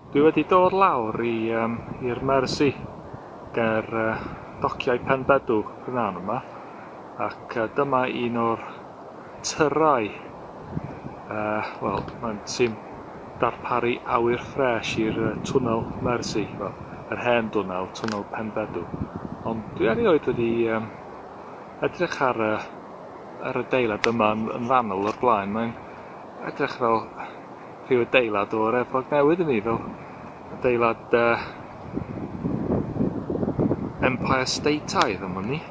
Dwi wedi dod lawr i, um, i'r Mersey, ger uh, dociau Penbedw, prynhawn yma, ac uh, dyma un o'r tyrau. Yy, wel, mae'n tîm darparu awyr ffres i'r yy, Twnnel Mersey, wel, yr hen dwnnel, Twnnel Penbedw. Ond dwi erioed wedi um, edrych ar y, ar y deilad yma yn, yn fanwl o'r blaen. Mae'n edrych fel rhyw adeilad o'r Efrog Newydd i mi, fel adeilad uh, Empire Stateaidd am wn i.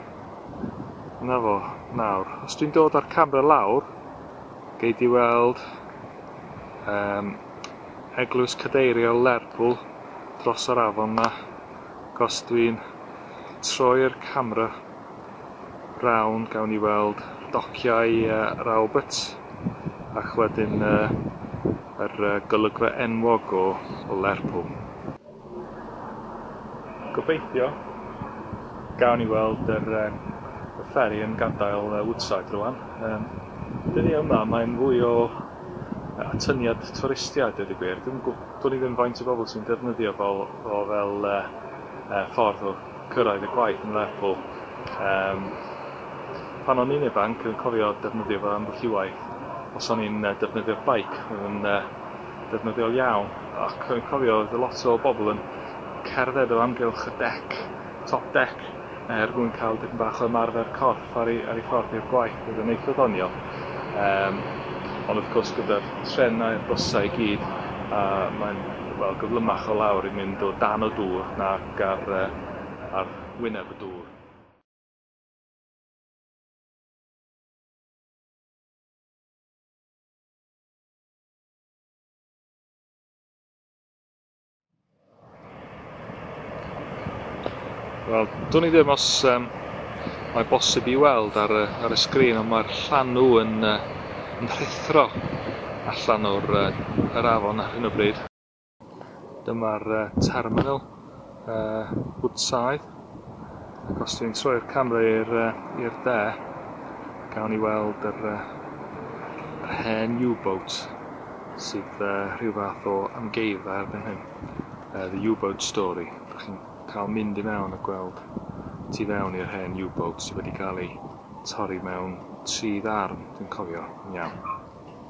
'Na fo, nawr, os dwi'n dod â'r camera lawr, gei di weld um, eglwys cadeiriol Lerpwl dros yr afon na. Os dwi'n troi'r camera round, gawn ni weld dociau uh, Rawbert, ac wedyn uh, yr uh, golygfa enwog o, o Lerpwl. Gobeithio. Gawn ni weld yr yym y fferi yn gadael yy Woodside rŵan. Yym dyddiau yma mae'n fwy o yy atyniad twristiaid dweud y gwir. Dwi'm yn gw- dwn i ddim faint o bobl sy'n defnyddio fo o fel yy yy ffordd o cyrraedd y gwaith yn Lerpwl. Yym pan o'n i'n ifanc yn cofio defnyddio fo ambell i waith os o'n i'n yy defnyddio'r beic. Odd yn yy ddefnyddiol iawn ac rwy'n cofio oedd lot o bobl yn cerdded o amgylch y dec, top deck, er mwyn cael dipyn bach o ymarfer corff ar ei, ar ei ffordd i'r gwaith, oedd yn eitha ddoniol. Um, ond wrth gwrs gyda'r trenau a'r bysau i gyd, uh, mae'n well, gyflymach o lawr i mynd o dan o dŵr nac ar, uh, ar wyneb y dŵr. Wel, do'n i ddim os um, mae bosib i weld ar y, ar y sgrin, ond mae'r llanw yn, uh, yn rhithro allan o'r uh, yr afon ar hyn o bryd. Dyma'r uh, terminal uh, Woodside. Ac os dwi'n troi'r camera i'r uh, de, gawn ni weld yr, uh, yr hen U-boat sydd uh, rhyw fath o amgeifa erbyn hyn. Uh, the U-boat story. Dych chi'n cael mynd i mewn a gweld tu fewn i'r hen U-boat sydd wedi cael ei torri mewn tri ddarn, dwi'n cofio, yn iawn.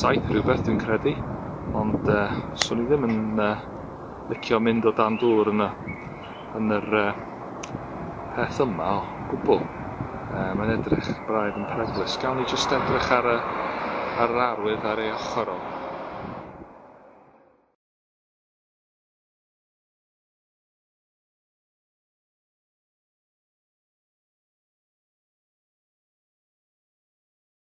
saith rhywbeth dwi'n credu, ond uh, swn i ddim yn uh, licio mynd o dan dŵr yn y, yn yr uh, peth yma o gwbl. Uh, mae'n edrych braidd yn peryglus. Gawn ni jyst edrych ar, y, ar yr arwydd ar ei ochr o.